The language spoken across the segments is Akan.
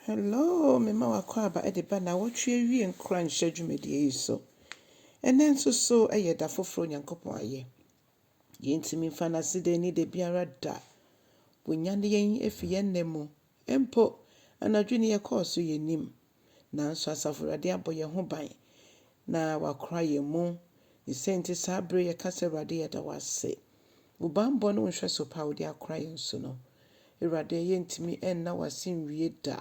Hello, mema w'akwaaba de ba nnawɔtwe awiee nkoranhyɛ dwumadie yi so. Ɛnnɛ nso so yɛ da foforɔ Onyankopɔn ayɛ. Yɛntumi mfa no ase da ani da biara da. Wanyane yɛn afi yɛn nna mu. Mpo, anadwo ni yɛkɔɔ so yɛnnim. Nanso Asafo Awurade abɔ yɛn ho ban na wakora yɛn mu. Ne sɛ nti saa bere yɛka sɛ Awurade yɛda wo ase. Wo bammɔ ne wo nhwɛso pa a wode akora yɛn so no, Awurade, yɛrentumi nna wo ase nwie da.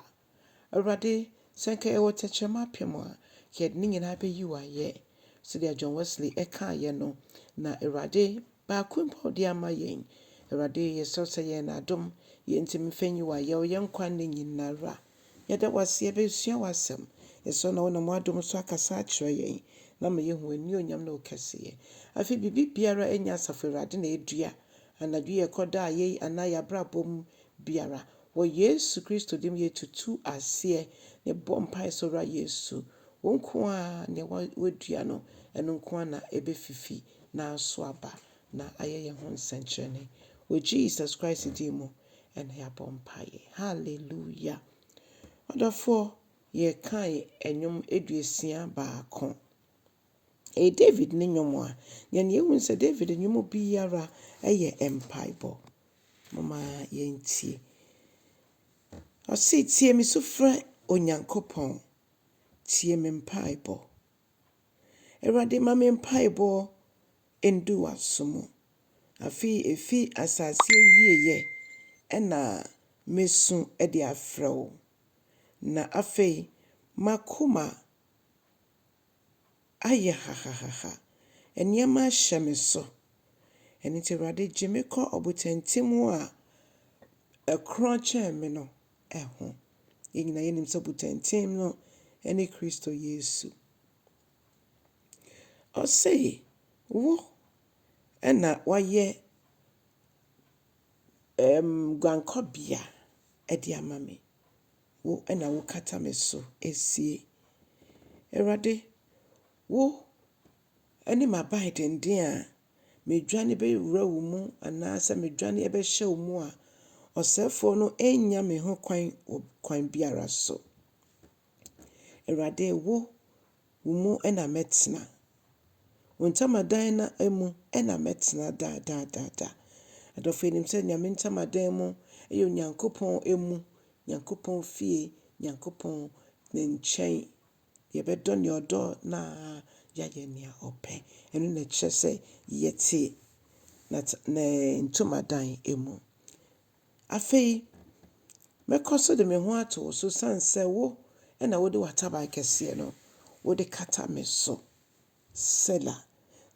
Awurade, sɛ anka yɛwɔ tɛkyerɛma apem a, anka yɛde ne nyinaa bɛyi wo ayɛ. Sɛdeɛ John Wesley kaeɛ no, na Awurade, baako mpo a wode ama yɛn. Awurade, yɛsrɛ wo sɛ yɛ yɛn adom, yɛntumi mfa nyi wo ayɛ, wo yɛn nkwa nna nyinara. Yɛda wo ase, yɛbɛsua w'asɛm. Yɛsrɛ wo na wonam w'adom so akasa akyerɛ yɛn na ama yɛahu w'anuonyam ne wo kɛseyɛ. Afei biribiara nyɛ Asafo Awurade na ɛdua anadwo yi, ɛkɔ da a yɛyi anaa yɛn abrabɔ mu biara. Wɔ Yesu Kristo din mu yɛtutu aseɛ na yɛbɔ mpaeɛ sɛ Owura Yesu, wo nko ara nea woadua no, ɛno nko ara na ɛbɛfifi na aso aba na ayɛ yɛn ho nsɛnkyerɛnne. Wɔ Jesus Christ din mu Ɛna yɛabɔ mpaeɛ. Hallelujah. Ɔdɔfoɔ, yɛkae ɛnwom aduosia baako. Ɛyɛ David ne nwom a, yɛn yɛhu ne sɛ David nwom biara ɛyɛ mpaebɔ. Momma yɛntie. Ɔse, tie me sufrɛ Onyankopɔn, tie me mpaebɔ. Awurade ma me mpaebɔ ndu w'aso mu. Afei efi asase awieɛ na mɛsu de afrɛ wo, na afei m'akoma ayɛ hahahaha, nneɛma ahyɛ me so. Ɛno nti Awurade gye me kɔ ɔbotantim a ɛkorɔn kyɛn me no ho. Yɛn nyinaa yɛnim sɛ butɛnten no ne Kristo Yesu. Ɔse, wo na wayɛ ɛɛm guankɔbea de ama me. Wo na wokata me so sie. Awurade, wo ne m'aban denden a medwane bɛwura wo mu anaasɛ medwane bɛhyɛ wo mu a, ɔsɛefoɔ no nnya me ho kwan wɔ kwan biara so. Awurade, wo, wo mu na mɛtena. Wo ntamadan na mu na mɛtena daa daa daa daa. Adɔfo yɛnim sɛ Nyame ntamadan mu yɛ Onyankopɔn mu, Nyankopɔn fie, Nyankopɔn ne nkyɛn. Yɛbɛdɔ nea ɔdɔ na yɛayɛ nea ɔpɛ. Ɛno na ɛkyerɛ sɛ yɛte n'at ne ntomadan mu. Afei mɛkɔ so de me ho ato wo so, esiane sɛ wo na wode w'ataban kɛseɛ no wode kata me so. Sela.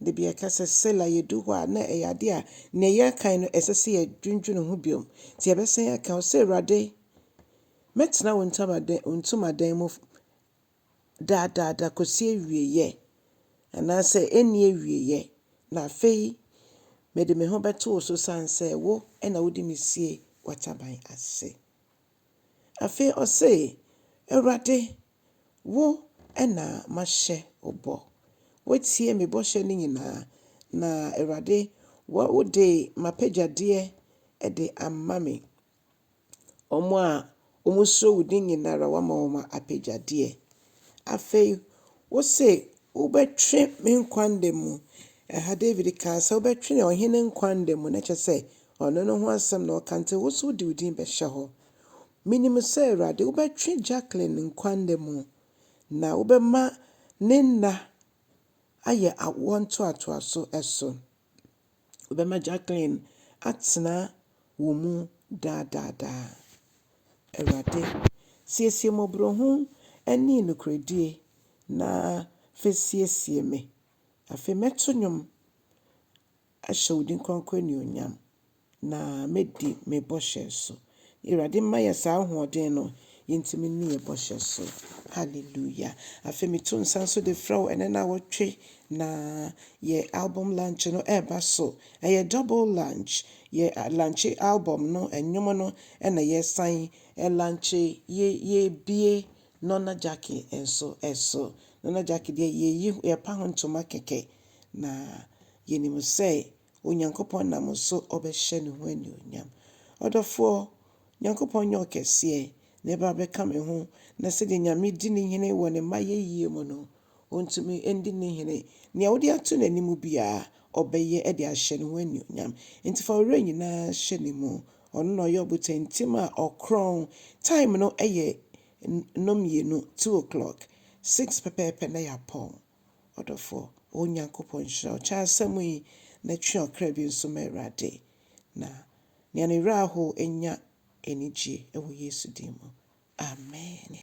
Da bi a yɛka sɛ Sela a, yɛdu hɔ a, na ɛyɛ adeɛ a nea yɛrekan no, ɛsɛ sɛ yɛdwendwene ho bio. Nti yɛbɛsan aka, ɔse, Awurade, mɛtena wo ntomadan, wo ntomadan mu daa daa daa kɔsi awieeɛ, anaasɛ ɛnni awieeɛ. Na afei mede me ho bɛto wo so sane sɛ wo na wode me sie w'ataban ase. Afei ɔse, Awurade, Wo na mahyɛ wo bɔ. Woatie me bɔhyɛ no nyinaa. Na Awurade, wode m'apɛgyadeɛ de ama me. Wɔn a wɔsuro wo din nyinaa ara, woama wɔn apɛgyadeɛ. Afei wose, Wobɛtwe me nkwa nna mu. Ɛha Dawid kaa sɛ, Wobɛtwe ɔhene nkwa nna mu, na kyerɛ sɛ, ɔno ne ho asɛm na ɔreka, nti wo nso wode wo din bɛhyɛ hɔ. Minim sɛ, Awurade, wobɛtwe Jacqueline nkwa nna mu, na wobɛma ne nna ayɛ awoɔ ntoatoaso so. Wobɛma Jacqueline atena wo mu daa daa daa. Awurade, siesie mmɔborɔhu ne nokorɛdie, na afei siesie me. Afei mɛto nnwom ahyɛ wo din kronkron animuonyam. Na mɛdi me bɔhyɛ so. Awurade mma yɛ saa ahoɔden no yɛntumi nni yɛ bɔhyɛ so. Hallelujah. Afei meto nsa nso de frɛ wo ɛnɛ nawɔtwe na yɛ album lunch no ɛreba so. Ɛyɛ double lunch. Yɛ lunche album no ɛnwom no ɛna yɛsan lunche yɛ yɛbie Nona Jackie nso ɛso. Nona Jackie deɛ yɛyi yɛpa ho ntoma kɛkɛ na yɛnim sɛ Onyankopɔn nam wo so ɔbɛhyɛ ne ho anuonyam. Ɔdɔfoɔ, Nyankopɔn nyɛ ɔkɛseɛ, na ɛba a bɛka me ho, na sɛdeɛ Nyame di ne hene wɔ ne mma yɛyie mu no, ɔntumi ndi ne hene. Nea wode ato n'anim biara, ɔbɛyɛ de ahyɛ ne ho anuonyam. Enti fa wo werɛ nyinaa hyɛ ne mu. Ɔno na ɔyɛ ɔbotantim a ɔkorɔn. Time no yɛ nnɔnmienu, two o'clock, six pɛpɛɛpɛ na yɛapɔn. Ɔdɔfoɔ, O Nyankopɔn, nhyira wo kyɛwasɛm yi, na twe ɔkra bi nso ma Awurade, na nea ne werɛ ahow nya anigyeɛ wɔ Yesu din mu. Amen.